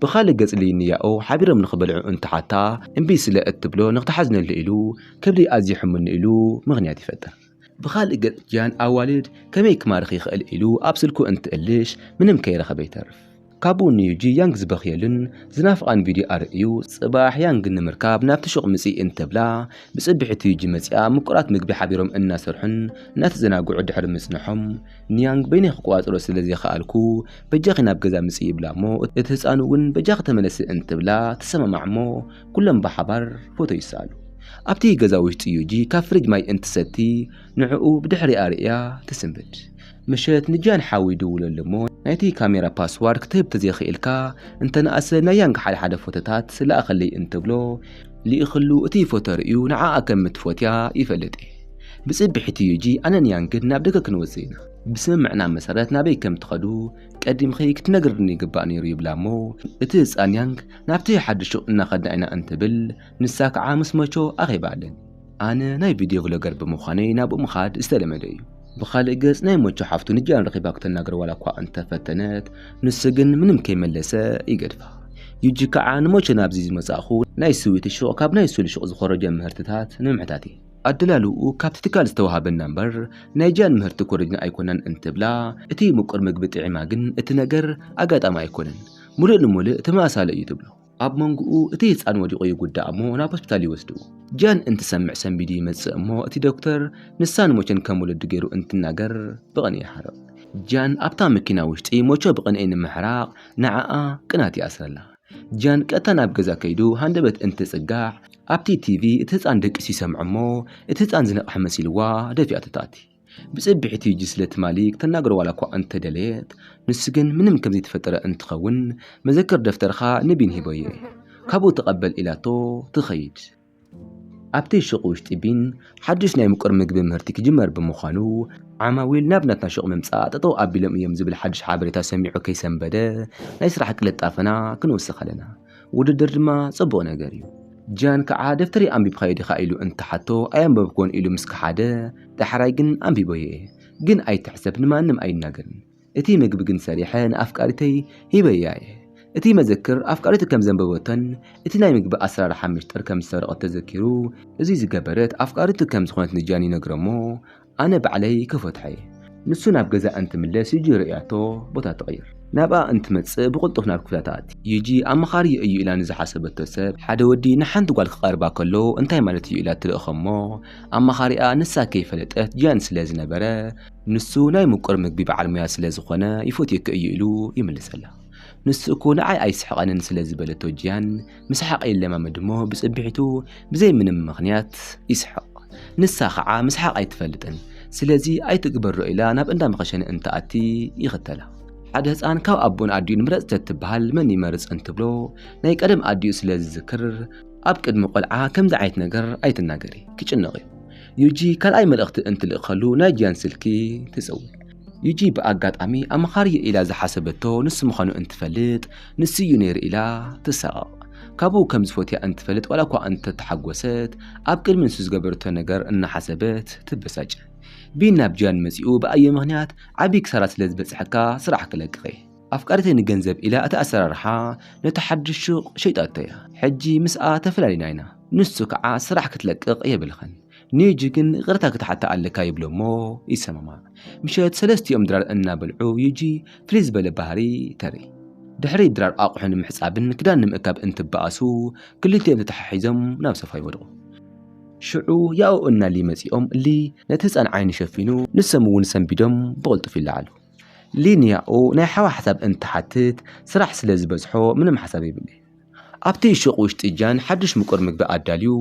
ብኻልእ ገጽ ሊን ንያኦ ሓቢሮም ንኽበልዑ እንትሓታ እምቢ ስለ እትብሎ ንኽትሓዝነሉ ኢሉ ከብደይ ኣዝዩ ሕሙኒ ኢሉ ምኽንያት ይፈጥር። ብኻልእ ገጽ ጂያን ኣዋልድ ከመይ ክማርኽ ይኽእል ኢሉ ኣብ ስልኩ እንትእልሽ ምንም ከይረኸበ ይተርፍ። ካብኡ ንዩጂ ያንግ ዝበኽየሉን ዝናፍቓን ቪድዮ ኣርእዩ። ጽባሕ ያንግ ንምርካብ ናብቲ ሹቕ ምጺ እንተብላ፣ ብጽብሒቱ ዩጂ መጺኣ ምቁራት ምግቢ ሓቢሮም እናሰርሑን እናተዘናግዑ ድሕሪ ምጽንሖም፣ ንያንግ በይነይ ክቆጻጸሮ ስለ ዘይከኣልኩ በጃኺ ናብ ገዛ ምጺ ይብላ'ሞ እቲ ህጻን'ውን በጃኺ ተመለሲ እንትብላ ትሰማማዕ'ሞ ኩሎም ብሓባር ፎቶ ይሰኣሉ። ኣብቲ ገዛ ውሽጢ ዩጂ ካብ ፍሪጅ ማይ እንትትሰቲ ንዕኡ ብድሕሪኣ ርእያ ትስንብድ። ምሸት ንጃን ሓው ይድውለሉ እሞ ናይቲ ካሜራ ፓስዋርድ ክትህብ ተዘይኽኢልካ እንተነኣሰ ናይ ያንግ ሓደ ሓደ ፎቶታት ለኣኸለይ እንትብሎ ልኢኽሉ እቲ ፎቶ ርእዩ ንዓኣ ከም እትፎትያ ይፈልጥ እየ። ብጽብሒቱ ዩጂ ኣነን ያንግን ናብ ደገ ክንወጽእ ኢና። ብስምምዕና መሰረት ናበይ ከም እትኸዱ ቀዲምኺ ክትነግርኒ ይግባእ ነይሩ ይብላ እሞ እቲ ህጻን ያንግ ናብቲ ሓድሽ ሹቕ እናኸድና ኢና እንትብል ንሳ ከዓ ምስ መቾ ኣኼባ ኣለን ኣነ ናይ ቪድዮ ቭሎገር ብምዃነይ ናብኡ ምኻድ ዝተለመደ እዩ። ብኻልእ ገፅ ናይ መቾ ሓፍቱ ንጃን ረኺባ ክተናግሮ ዋላ እኳ እንተፈተነት ንሱ ግን ምንም ከይመለሰ ይገድፋ። ዩጂ ከዓ ንመቾ ናብዚ ዝመፃእኹ ናይ ስዊት ሹቕ ካብ ናይ ሱል ሹቕ ዝኾረጀ ምህርትታት ንምሕታት እየ። ኣደላልውኡ ካብቲ ትካል ዝተውሃበና እምበር ናይ ጃን ምህርቲ ኮሪጅና ኣይኮናን እንትብላ እቲ ምቁር ምግቢ ጥዒማ ግን እቲ ነገር ኣጋጣሚ ኣይኮነን ሙሉእ ንሙልእ ተመሳሳሊ እዩ ትብሎ። ኣብ መንጎኡ እቲ ህጻን ወዲቑ ይጉዳእ እሞ ናብ ሆስፒታል ይወስድዎ። ጃን እንትሰምዕ ሰንቢዱ ይመጽእ እሞ እቲ ዶክተር ንሳ ንሞቸን ከም ወለዱ ገይሩ እንትናገር ብቕንኢ ይሓርቕ። ጃን ኣብታ መኪና ውሽጢ ሞቸ ብቕንኢ ንምሕራቕ ንዓኣ ቅናት ይኣስረላ። ጃን ቀጥታ ናብ ገዛ ከይዱ ሃንደበት እንትጽጋዕ ኣብቲ ቲቪ እቲ ህጻን ደቂሱ ይሰምዕ እሞ እቲ ህጻን ዝነቕሐ መሲልዋ ደፊኣቶ ትኣቲ። ብጽብሒ ቲጂ ስለ ትማሊ ክተናግሮ ዋላ እኳ እንተ ደለየት፣ ንሱ ግን ምንም ከም ዘይተፈጠረ እንትኸውን መዘክር ደፍተርኻ ንቢን ሂቦዮ ካብኡ ተቐበል ኢላቶ ትኸይድ። ኣብቲ ሹቕ ውሽጢ ቢን ሓዱሽ ናይ ምቁር ምግቢ ምህርቲ ክጅመር ብምዃኑ ዓማዊል ናብ ናትና ሹቕ ምምጻእ ጠጠው ኣቢሎም እዮም ዝብል ሓዱሽ ሓበሬታ ሰሚዑ ከይሰንበደ ናይ ስራሕ ቅልጣፈና ክንውስኽ ኣለና። ውድድር ድማ ጽቡቕ ነገር እዩ። ጃን ከዓ ደፍተረይ ኣንቢብካዮ ዲኻ ኢሉ እንተሓቶ ኣየንበብኩዎን ኢሉ ምስ ከሓደ ዳሕራይ ግን ኣንቢበዮ እየ ግን ኣይትሕሰብ ንማንም ኣይናገርን እቲ ምግቢ ግን ሰሪሐ ንኣፍቃሪተይ ሂበያ እየ እቲ መዘክር ኣፍቃሪቱ ከም ዘንበበቶን እቲ ናይ ምግቢ ኣሰራርሓ ሚስጥር ከም ዝሰረቐት ተዘኪሩ እዚ ዝገበረት ኣፍቃሪቱ ከም ዝኾነት ንጃን ይነግሮ እሞ ኣነ ባዕለይ ከፈትሖ'የ። ንሱ ናብ ገዛኣ እንትምለስ ዩጂ ርእያቶ ቦታ ትቕይር። ናብኣ እንትመጽእ ብቕልጡፍ ናብ ክፍላ ትኣቲ። ዩጂ ኣማኻሪ'የ እዩ ኢላ ንዝሓሰበቶ ሰብ፣ ሓደ ወዲ ንሓንቲ ጓል ክቐርባ ከሎ እንታይ ማለት እዩ ኢላ ትልእኾ'ሞ ኣማኻሪኣ ንሳ ከይፈለጠት ጂያን ስለ ዝነበረ ንሱ ናይ ምቁር ምግቢ በዓል ሞያ ስለ ዝኾነ ይፈትየኪ እዩ ኢሉ ይምልሰላ። ንሱ እኮ ንዓይ ኣይስሕቐንን ስለ ዝበለቶ ጂያን ምስሓቕ ይለማመድ እሞ ብጽብሒቱ ብዘይ ምንም ምኽንያት ይስሕቕ። ንሳ ኸዓ ምስሓቕ ኣይትፈልጥን። ስለዚ ኣይትግበሮ ኢላ ናብ እንዳ መኸሸኒ እንትኣቲ ይኽተላ። ሓደ ህጻን ካብ ኣቦን ኣዲኡን ምረጽ ተትብሃል መን ይመርጽ እንትብሎ ናይ ቀደም ኣዲኡ ስለ ዝዝክር ኣብ ቅድሚ ቆልዓ ከምዚ ዓይነት ነገር ኣይትናገሪ ክጭነቕ'ዩ። ዩጂ ካልኣይ መልእኽቲ እንትልእከሉ ናይ ጂያን ስልኪ ትጽውዕ። ዩጂ ብኣጋጣሚ ኣምኻርዮ ኢላ ዝሓሰበቶ ንሱ ምዃኑ እንትፈልጥ ንሱዩ ነይሩ ኢላ ትሳቐቕ። ካብኡ ከም ዝፈትያ እንትፈልጥ ዋላ እኳ እንተተሓጎሰት ኣብ ቅድሚ ንሱ ዝገበረቶ ነገር እናሓሰበት ትበሳጭ። ቢን ናብ ጂያን መጺኡ ብኣየ ምኽንያት ዓቢ ክሳራ ስለ ዝበጽሐካ ስራሕ ክለቅቕየ። ኣፍቃሪተይ ንገንዘብ ኢላ እቲ ኣሰራርሓ ነቲ ሓድሽ ሹቕ ሸይጣቶያ። ሕጂ ምስኣ ተፈላሊና ኢና። ንሱ ከዓ ስራሕ ክትለቅቕ የብልኽን። ኔጂ ግን ይቕርታ ክትሓታ ኣለካ ይብሎ እሞ ይሰማማዕ። ምሸት ሰለስቲኦም ድራር እናበልዑ ዩጂ ፍልይ ዝበለ ባህሪ ተርኢ። ድሕሪ ድራር ኣቑሑ ንምሕጻብን ክዳን ንምእካብ እንትበኣሱ ክልቲኦም ተተሓሒዞም ናብ ሶፋ ይወድቑ። ሽዑ ያኡ እና ሊ መጺኦም ሊ ነቲ ህጻን ዓይኑ ሸፊኑ ንሶም እውን ሰንቢዶም ብቕልጡፍ ይለዓሉ። ሊ ንያኡ ናይ ሓዋ ሓሳብ እንትሓትት ስራሕ ስለ ዝበዝሖ ምንም ሓሳብ የብለይን። ኣብቲ ሹቕ ውሽጢ ጃን ሓዱሽ ምቁር ምግቢ ኣዳልዩ፣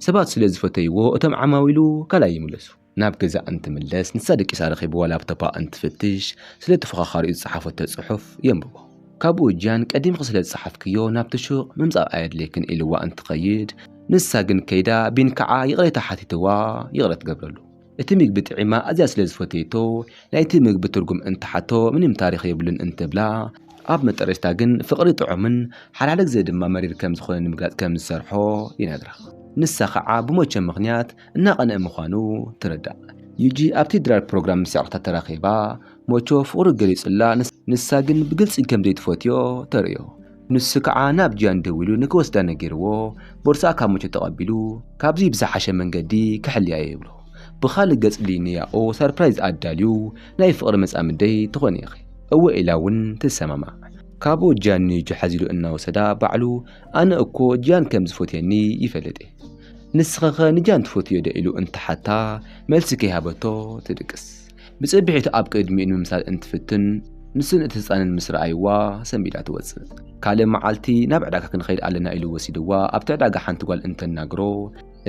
ሰባት ስለ ዝፈተይዎ እቶም ዓማዊሉ ካልኣይ ይምለሱ። ናብ ገዛእ እንትምለስ ንሳ ደቂሳ ረኺብዋ ላፕቶፓ እንትፍትሽ ስለ ተፎኻኻሪኡ ዝጸሓፈቶ ጽሑፍ የንብቦ። ካብኡ ጃን ቀዲምኺ ስለ ዝጸሓፍክዮ ናብቲ ሹቕ ምምጻእ ኣየድልየክን ኢልዋ እንትኸይድ ንሳ ግን ከይዳ ቢንካዓ ይቕሬታ ሓቲትዋ ይቕረ ትገብረሉ። እቲ ምግቢ ጥዒማ ኣዝያ ስለ ዝፈተየቶ ናይቲ ምግቢ ትርጉም እንትሓቶ ምንም ታሪኽ የብሉን እንትብላ፣ ኣብ መጠረሽታ ግን ፍቕሪ ጥዑምን ሓላል ግዘ ድማ መሪር ከም ዝኾነ ንምግላፅ ከም ዝሰርሖ ይነግራ። ንሳ ከዓ ብሞቸ ምኽንያት እናቐንእ ምዃኑ ትርዳእ። ዩጂ ኣብቲ ድራር ፕሮግራም ምስ የዕሩኽታ ተራኺባ ሞቾ ፍቕሩ ገሊፁላ ንሳ ግን ብግልፂ ከም ዘይትፈትዮ ተርእዮ። ንሱ ከዓ ናብ ጂያን ደዊሉ ንክወስዳ ነጊርዎ ቦርስኣ ካብ ሙቾ ተቐቢሉ ካብዙይ ብዝሓሸ መንገዲ ክሕልያ እየ ይብሎ። ብኻልእ ገፅ ሊንያኦ ሰርፕራይዝ ኣዳልዩ ናይ ፍቕሪ መፃምደይ ትኾኒ ኢኺ እወ ኢላ እውን ትሰማማዕ። ካብኡ ጂያን ንዩጁ ሓዚሉ እናወሰዳ ባዕሉ ኣነ እኮ ጂያን ከም ዝፎትየኒ ይፈልጥ እየ ንስኺኸ ንጂያን ትፎትይዮ ዶ ኢሉ እንትሓታ መልሲ ከይሃበቶ ትድቅስ። ብጽብሒት ኣብ ቅድሚኡ ንምምሳል እንትፍትን ንስን እቲ ህፃንን ምስ ረኣይዋ ሰንቢዳ ትወፅእ። ካልእ መዓልቲ ናብ ዕዳጋ ክንኸይድ ኣለና ኢሉ ወሲድዋ ኣብቲ ዕዳጋ ሓንቲ ጓል እንተናግሮ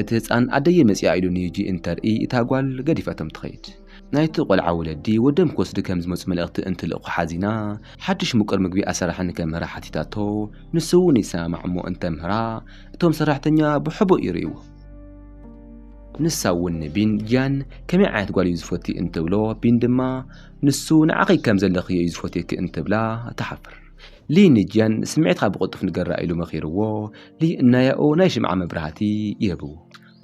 እቲ ህፃን ኣደየ መፂኣ ኢሉ ንሂጂ እንተርኢ እታ ጓል ገዲፈቶም ትኸይድ። ናይቲ ቆልዓ ወለዲ ወዶም ክወስዱ ከም ዝመፁ መልእኽቲ እንትልእኩ ሓዚና ሓዱሽ ምቁር ምግቢ ኣሰራርሓ ንከምህራ ሓቲታቶ ንሱ እውን ይሰማማዕ እሞ እንተምህራ እቶም ሰራሕተኛ ብሕቡእ ይርእይዎ። ንሳ እውን ንቢን ጂያን ከመይ ዓይነት ጓል እዩ ዝፈትይ እንትብሎ ቢን ድማ ንሱ ንዓኺ ከም ዘለኽዮ እዩ ዝፈትየኪ እንትብላ ትሓፍር ሊ ንጂያን ስምዒትካ ብቕልጡፍ ንገራ ኢሉ መኺርዎ ሊ እናያኡ ናይ ሽምዓ መብራህቲ ይህብዎ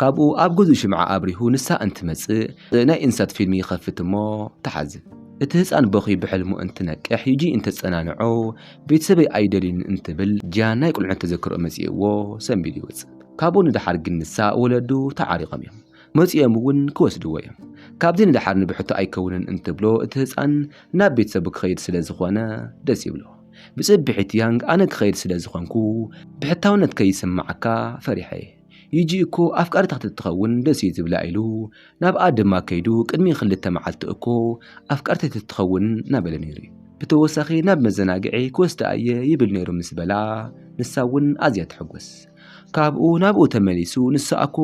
ካብኡ ኣብ ገዝኡ ሽምዓ ኣብሪሁ ንሳ እንትመጽእ ናይ እንስሳት ፊልም ይኸፍት እሞ ትሓዝን እቲ ህፃን በኺ ብሕልሙ እንትነቅሕ ዩጂ እንተፀናንዖ ቤተሰበይ ኣይደልዩን እንትብል ጂያን ናይ ቁልዕነት ተዘክርኦ መፂእዎ ሰንቢዱ ይወፅእ ካብኡ ንደሓር ግን ንሳ ወለዱ ተዓሪቖም እዮም። መጺኦም እውን ክወስድዎ እዮም። ካብዚ ንደሓር ንብሕቱ ኣይከውንን እንትብሎ እቲ ህጻን ናብ ቤተሰቡ ክኸይድ ስለ ዝኾነ ደስ ይብሎ። ብጽብሒት ያንግ ኣነ ክኸይድ ስለ ዝኾንኩ ብሕታውነት ከይስምዓካ ፈሪሐ እየ። ዩጂ እኮ ኣፍቃሪታ ተትኸውን ደስ እዩ ዝብላ ኢሉ ናብኣ ድማ ከይዱ ቅድሚ ክልተ መዓልቲ እኮ ኣፍቃሪተይ ተትኸውን እናበለ ነይሩ እዩ። ብተወሳኺ ናብ መዘናግዒ ክወስዳ እየ ይብል ነይሩ ምስ በላ ንሳ እውን ኣዝያ ትሕጎስ። ካብኡ ናብኡ ተመሊሱ ንሳ ኣኮ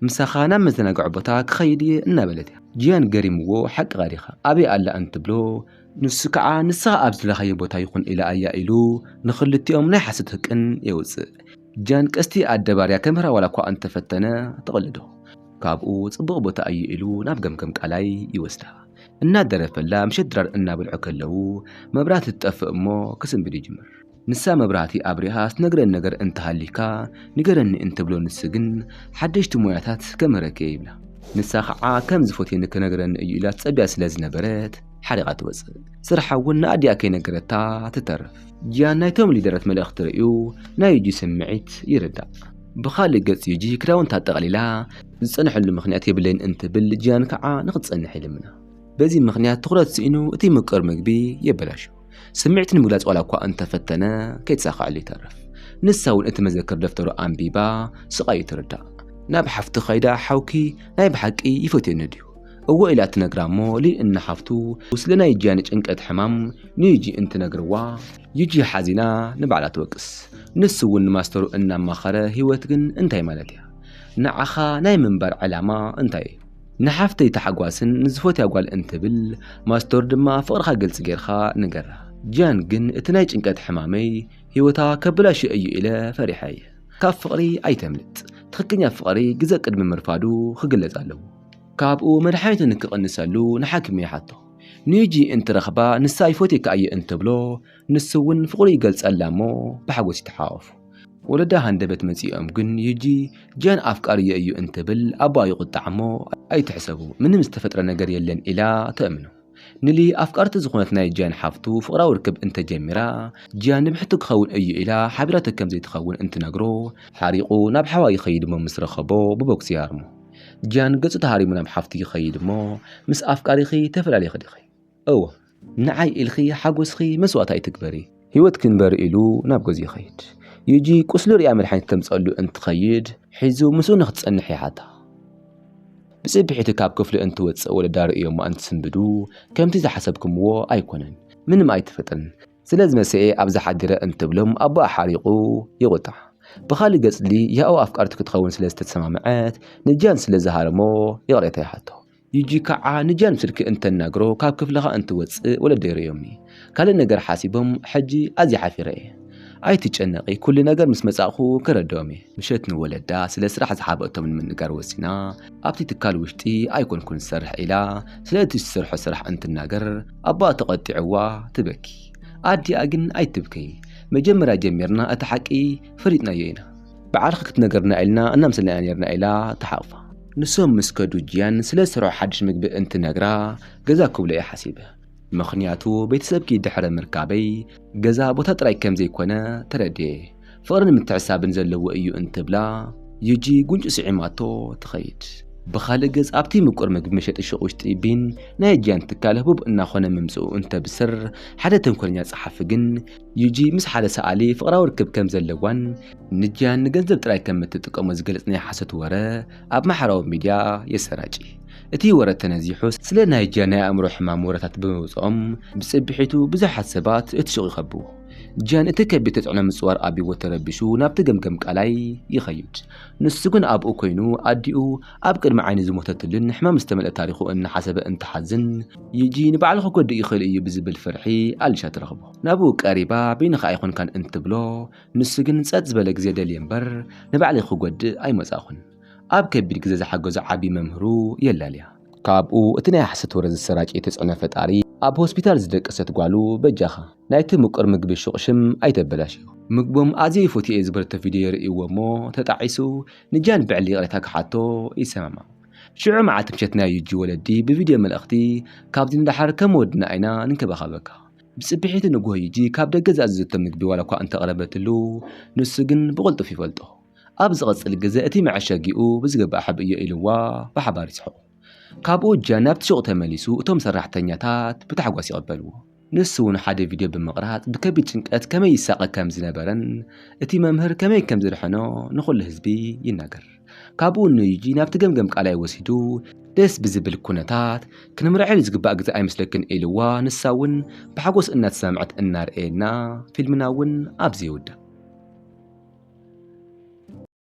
ምሳኻ ናብ መዘናግዒ ቦታ ክኸይድ እየ እናበለት እያ። ጂያን ገሪምዎ ሓቂ ቃዲኻ ኣበይ ኣላ እንትብሎ ንሱ ከዓ ንስኻ ኣብ ዝደለኻዮ ቦታ ይኹን ኢላ እያ ኢሉ ንኽልቲኦም ናይ ሓሶት ህቅን የውፅእ። ጂያን ቀስቲ ኣደባርያ ከምህራ ዋላኳ እንተፈተነ ትቕልዶ። ካብኡ ፅቡቕ ቦታ እዩ ኢሉ ናብ ገምገም ቃላይ ይወስዳ። እናደረፈላ ምሸት ድራር እናበልዑ ከለው መብራህቲ ትጠፍእ እሞ ክስንብድ ይጅምር። ንሳ መብራህቲ ኣብሪሃ ትነግረኒ ነገር እንተሃሊካ ንገረኒ እንትብሎ ንሱ ግን ሓደሽቲ ሞያታት ከምህረኪ'የ ይብላ። ንሳ ከኣ ከም ዝፈትየኒ ክነግረኒ እዩ ኢላ ትጸብያ ስለ ዝነበረት ሓሪቓ ትወጽእ። ስርሓ እውን ንኣዲኣ ከይነገረታ ትተርፍ። ጂያን ናይቶም ሊደረት መልእኽቲ ርእዩ ናይ ዩጂ ስምዒት ይርዳእ። ብኻልእ ገጽ ዩጂ ክዳውንታ ጠቕሊላ ዝጸንሐሉ ምኽንያት የብለይን እንትብል ጂያን ከኣ ንኽትጸንሕ ይልምና። በዚ ምኽንያት ትኹረት ስኢኑ እቲ ምቁር ምግቢ የበላሹ። ስምዒት ንምግላጽ ዋላ እኳ እንተ ፈተነ፣ ከይተሳኸዐሉ ይተርፍ። ንሳ እውን እቲ መዘክር ደፍተሩ ኣንቢባ ስቓዩ ትርዳእ። ናብ ሓፍቱ ከይዳ ሓውኪ ናይ ብሓቂ ይፈትየኒ ድዩ? እወ ኢላ ትነግራ እሞ ሊን እና ሓፍቱ ስለ ናይ ጂያ ናይ ጭንቀት ሕማም ንዩጂ እንትነግርዋ፣ ዩጂ ሓዚና ንባዕላ ትወቅስ። ንሱ እውን ንማስተሩ እናማኸረ ህይወት ግን እንታይ ማለት እያ? ንዓኻ ናይ ምንባር ዕላማ እንታይ እዩ? ንሓፍተይ ታሕጓስን ንዝፈትያ ጓል እንትብል ማስቶር ድማ ፍቕርኻ ግልፂ ጌርኻ ንገራ። ጂያን ግን እቲ ናይ ጭንቀት ሕማመይ ህይወታ ከበላሽዮ እዩ ኢለ ፈሪሐ እየ። ካብ ፍቕሪ ኣይተምልጥ፣ ትኽክኛ ፍቕሪ ግዘ ቅድሚ ምርፋዱ ክግለፅ ኣለዎ። ካብኡ መድሓኒቱ ንክቕንሰሉ ንሓኪሙ ይሓቶ። ንዩጂ እንትረኽባ ንሳ ይፎትየኪ ኣየ እንትብሎ፣ ንሱ እውን ፍቕሩ ይገልጸላ እሞ ብሓጎስ ይተሓቋቖፉ። ወለዳ ሃንደበት መጺኦም ግን ዩጂ ጂያን ኣፍቃሪዮ እዩ እንትብል ኣቦኣ ይቑጣዕ እሞ ኣይትሕሰቡ ምንም ዝተፈጥረ ነገር የለን ኢላ ተእምኖ። ንሊ ኣፍቃርቲ ዝኾነት ናይ ጂያን ሓፍቱ ፍቕራዊ ርክብ እንተጀሚራ ጂያን ንብሕቱ ክኸውን እዩ ኢላ ሓቢራቶ ከም ዘይትኸውን እንትነግሮ ሓሪቑ ናብ ሓዋ ይኸይድ እሞ ምስ ረኸቦ ብቦክሲ ይሃርሞ። ጂያን ገጹ ተሃሪሙ ናብ ሓፍቱ ይኸይድ እሞ ምስ ኣፍቃሪኺ ተፈላሊኺ ዲኺ? እወ። ንዓይ ኢልኺ ሓጎስኺ መስዋእት ኣይትግበሪ። ህይወት ክንበር ኢሉ ናብ ገዝኡ ይኸይድ። ዩጂ ቁስሉ ሪኣ መድሓኒት ክተምፀኣሉ እንትኸይድ ሒዙ ምስኡ ንክትፀንሕ ይሓታ። ብፅብሒቱ ካብ ክፍሉ እንትወፅእ ወለዳ ርእዮማ እንትስንብዱ ከምቲ ዝሓሰብክምዎ ኣይኮነን ምንም ኣይተፈጠረን ስለዝመሰኤ ኣብዛ ሓዲረ እንትብሎም ኣቦኣ ሓሪቑ ይቑጣዕ። ብኻሊእ ገፅ ሊያኦ ኣፍቃርቱ ክትኸውን ስለዝተሰማምዐት ንጂያን ስለዝሃረሞ ይቕሬታ ይሓቶ። ዩጂ ከዓ ንጃን ስልኪ እንተናግሮ ካብ ክፍልኻ እንትወፅእ ወለደይ ርእዮምኒ ካልእ ነገር ሓሲቦም ሕጂ ኣዝየ ሓፊረ እየ ኣይትጨነቂ ኩሉ ነገር ምስ መፃእኹ ከረድኦም እየ። ምሸት ንወለዳ ስለ ስራሕ ዝሓበእቶም ንምንጋር ወሲና ኣብቲ ትካል ውሽጢ ኣይኮንኩን ዝሰርሕ ኢላ ስለ እቲ ዝትሰርሖ ስራሕ እንትናገር ኣቦኣ ተቐጢዕዋ ትበኪ ኣዲኣ ግን ኣይትብከይ መጀመርያ ጀሚርና እቲ ሓቂ ፈሊጥናዮ ኢና በዓልኺ ክትነግርና ኢልና እናምሰልና ኢና ነይርና ኢላ ትሓቕፋ። ንሶም ምስ ከዱ ጂያን ስለ ዝሰርሖ ሓድሽ ምግቢ እንትነግራ ገዛ ክብሎ እየ ሓሲበ። ምኽንያቱ ቤተሰብኪ ድሕሪ ምርካበይ ገዛ ቦታ ጥራይ ከም ዘይኮነ ተረድየ። ፍቕርን ምትሕስሳብን ዘለዎ እዩ እንትብላ ዩጂ ጉንጩ ስዒማቶ ትኸይድ። ብኻልእ ገፅ ኣብቲ ምቁር ምግቢ መሸጢ ሹቕ ውሽጢ ቢን ናይ ጂያን ትካል ህቡብ እናኾነ ምምፅኡ እንተብስር ሓደ ተንኮለኛ ፀሓፊ ግን ዩጂ ምስ ሓደ ሰኣሊ ፍቕራዊ ርክብ ከም ዘለዋን ንጂያን ንገንዘብ ጥራይ ከም እትጥቀሞ ዝገልጽ ናይ ሓሶት ወረ ኣብ ማሕበራዊ ሚድያ የሰራጭ። እቲ ወረ ተነዚሑ ስለ ናይ ጂያን ናይ ኣእምሮ ሕማም ወረታት ብምውጽኦም ብጽብሒቱ ብዙሓት ሰባት እቲ ሹቕ ይኸብቡ። ጂያን እቲ ከቢድ ተጽዕኖ ምጽዋር ኣብይዎ ተረቢሹ ናብቲ ገምገም ቃላይ ይኸይድ። ንሱ ግን ኣብኡ ኮይኑ ኣዲኡ ኣብ ቅድሚ ዓይኑ ዝሞተትሉን ሕማም ዝተመልአ ታሪኹ እናሓሰበ እንትሓዝን ዩጂ ንባዕሉ ክጎድእ ይኽእል እዩ ብዝብል ፍርሒ ኣሊሻ ትረኽቦ። ናብኡ ቀሪባ በይንኻ ኣይኮንካን እንትብሎ ንሱ ግን ጸጥ ዝበለ ግዜ ደልየ እምበር ንባዕለይ ክጎድእ ኣይመጻእኹን። ኣብ ከቢድ ግዜ ዝሓገዞ ዓቢ መምህሩ የላልያ። ካብኡ እቲ ናይ ሓሶት ወረ ዘሰራጨየ ተጽዕኖ ፈጣሪ ኣብ ሆስፒታል ዝደቀሰት ጓሉ በጃኻ ናይቲ ምቁር ምግቢ ሹቕ ሽም ኣይተበላሽዮ። ምግቦም ኣዝየ ይፎትዬ'የ ዝበለቶ ቪድዮ የርእይዎ እሞ ተጣዒሱ ንጃን ብዕሊ ይቕሬታ ክሓቶ ይሰማማዕ። ሽዑ መዓልቲ ምሸት ናይ ዩጂ ወለዲ ብቪድዮ መልእኽቲ ካብዚ ንደሓር ከም ወድና ኢና ንንከባኸበካ ብጽብሒቱ ንጎሂጂ ካብ ደገ ዝኣዘዘቶ ምግቢ ዋላኳ እንተ ኣቕረበትሉ፣ ንሱ ግን ብቕልጡፍ ይፈልጦ። ኣብ ዝቕጽል ግዘ እቲ መዐሸጊኡ ብዝግባእ ሓብእዮ ኢልዋ ብሓባር ይስሕቑ። ካብኡ ጃን ናብቲ ሹቕ ተመሊሱ እቶም ሰራሕተኛታት ብታሕጓስ ይቕበልዎ። ንሱውን ሓደ ቪድዮ ብምቕራጽ ብከቢድ ጭንቀት ከመይ ይሳቐ ከም ዝነበረን እቲ መምህር ከመይ ከም ዘድሐኖ ንኹሉ ህዝቢ ይናገር። ካብኡ ንዩጂ ናብቲ ገምገም ቃላይ ወሲዱ ደስ ብዝብል ኩነታት ክንምርዐል ዝግባእ ግዜ ኣይመስለክን ኢልዋ ንሳ እውን ብሓጎስ እናተሰምዐት እናርኣየና ፊልምና እውን ኣብዚ ይውዳእ።